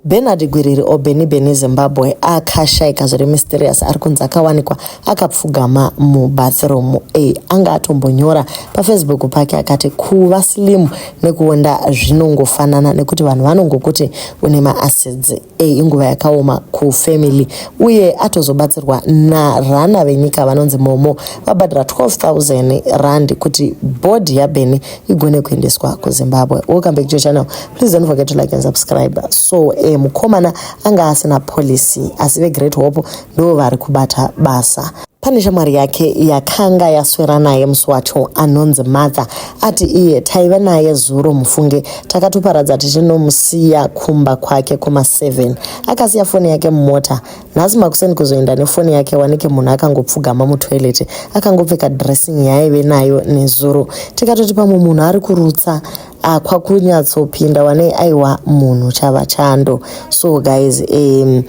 Bernard Gwiriri or Benny Benny Zimbabwe akashaika zviri mysterious ari kunzi akawanikwa akapfugama mubathroom e anga atombonyora pafacebook pake akati kuva slim nekuonda zvinongofanana nekuti vanhu vanongokuti une maacids e inguva yakaoma kufamily uye atozobatsirwa narana venyika vanonzi momo vabhadhira 12000 rand kuti bhodhi yaBenny igone kuendeswa kuzimbabwe welcome back to your channel please don't forget to like and subscribe so eh, mukomana anga asina policy asi vegreat hope ndo vari kubata basa pane shamwari yake yakanga yaswera naye musi wacho anonzi matha ati iye taive naye zuro mufunge takatoparadza tichinomusiya kumba kwake kuma 7 akasiya foni yake mumota nhasi makuseni kuzoenda nefoni yake wanike munhu akangopfugama mutoilet akangopfeka dressing yaaive nayo nezuro tikatoti pamwe munhu ari kurutsa ah, kwakunyatsopinda wane aiwa munhu chava chando so guys um,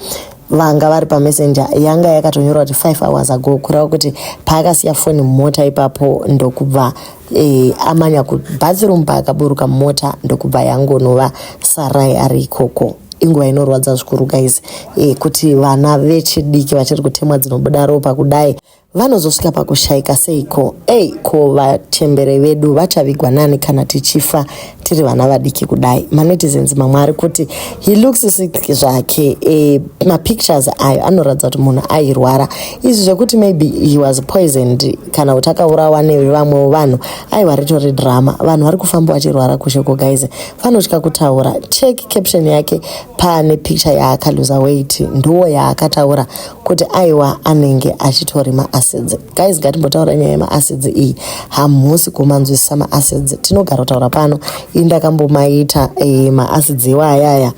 vanga vari pamessenger yanga yakatonyorwa kuti five hours ago kureva kuti paakasiya foni mumota ipapo ndokubva e, amanya kubathroom paakaburuka mota ndokubva yangonova sarai ari ikoko inguva inorwadza zvikuru guys e, kuti vana vechidiki vachiri kutemwa dzinobuda ropa kudai vanozosvika pakushaika seiko ei ko vachembere vedu vachavigwa nani kana tichifa tiri vana vadiki kudai manetizens mamwe ari kuti he looks sick zvake e, mapictures ayo anoratidza kuti munhu airwara izvi zvekuti maybe he was poisoned kana kuti akaurawa nevamwewo vanhu aiwa ritori drama vanhu vari kufamba vachirwara kushe ko guys vanotya kutaura check caption yake pane picture yaakaluza weight ndiwo yaakataura kuti aiwa anenge achitori maacids guys ngatimbotaura nyaya yemaacids iyi hamusi kumanzwisisa maacids tinogara kutaura pano ii ndakambomaita e, maacids iwo ayaya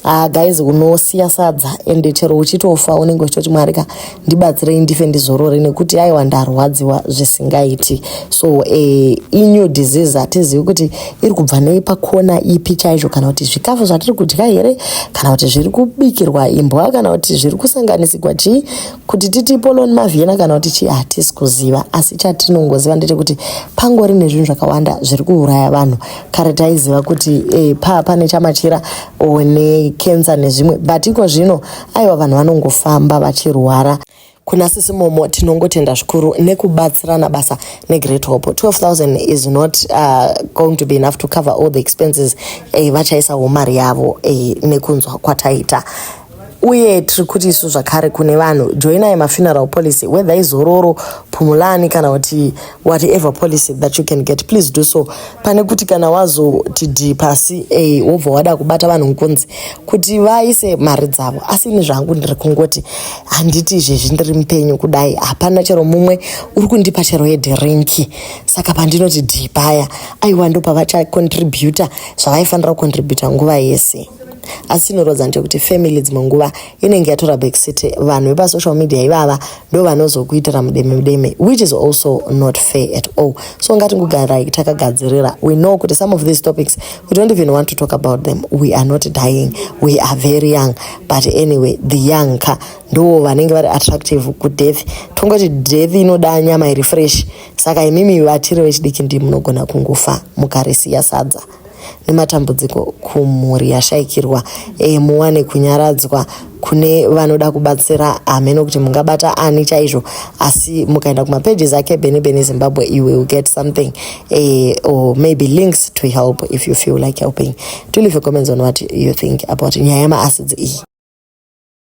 ah, guys unosiya sadza ende chero uchitofa unenge uchitoti mwari ka ndibatsirei ndife ndizorore nekuti aiwa ndarwadziwa zvisingaiti so e, inew disease hatizivi kuti iri kubva nei pakona ipi chaizvo kana kuti zvikafu zvatiri kudya here kana kuti zviri kubikirwa imbwa kana kuti zviri kusanganisigwa chii Kuti titi ipoloni mavhiyena kana kuti chii hatisi kuziva asi chatinongoziva ndechekuti pangori nezvinhu zvakawanda zviri kuuraya vanhu kare taiziva kuti e, paa pane chamachira o nekensa nezvimwe but iko zvino aiwa vanhu vanongofamba vachirwara kuna sisi momo tinongotenda zvikuru nekubatsirana basa negreat hope 12000 is not uh, going to be enough to cover all the expenses eh, vachaisa wo mari yavo eh, nekunzwa kwataita uye tiri kuti isu zvakare kune vanhu joinai mafuneral policy whether izororo pumulani kana kuti whatever policy that you can get please do so pane kuti kana wazoti d pasi a wobva wada kubata vanhu nkunzi kuti vaise mari dzavo asi ini zvangu ndiri kungoti handiti izvezvi ndiri mupenyu kudai hapana chero mumwe uri kundipa chero yedhirinki saka pandinoti d paya aiwa ndopavachacontributa zvavaifanira kucontributa nguva yese asi inorodza ndekuti family dzimwe nguva inenge yatora backseat vanhu vepasocial media ivava ndo vanozokuitira mudeme mudeme which is also not fair at all so ngatingogarai takagadzirira we know kuti some of these topics we don't even want to talk about them we are not dying we are very young but anyway the young ka ndo vanenge vari attractive kudeath tongoti death inoda nyama iri fresh saka imimi vatiri vechidiki ndi munogona kungofa mukarisiya sadza nematambudziko kumhuri yashaikirwa e, muwane kunyaradzwa kune vanoda kubatsira hameno kuti mungabata ani chaizvo asi mukaenda kumapages ake bene bene zimbabwe you will get something e, or maybe links to help if you feel like helping to leave a comments on what you think about nyaya yemaasidzi iyi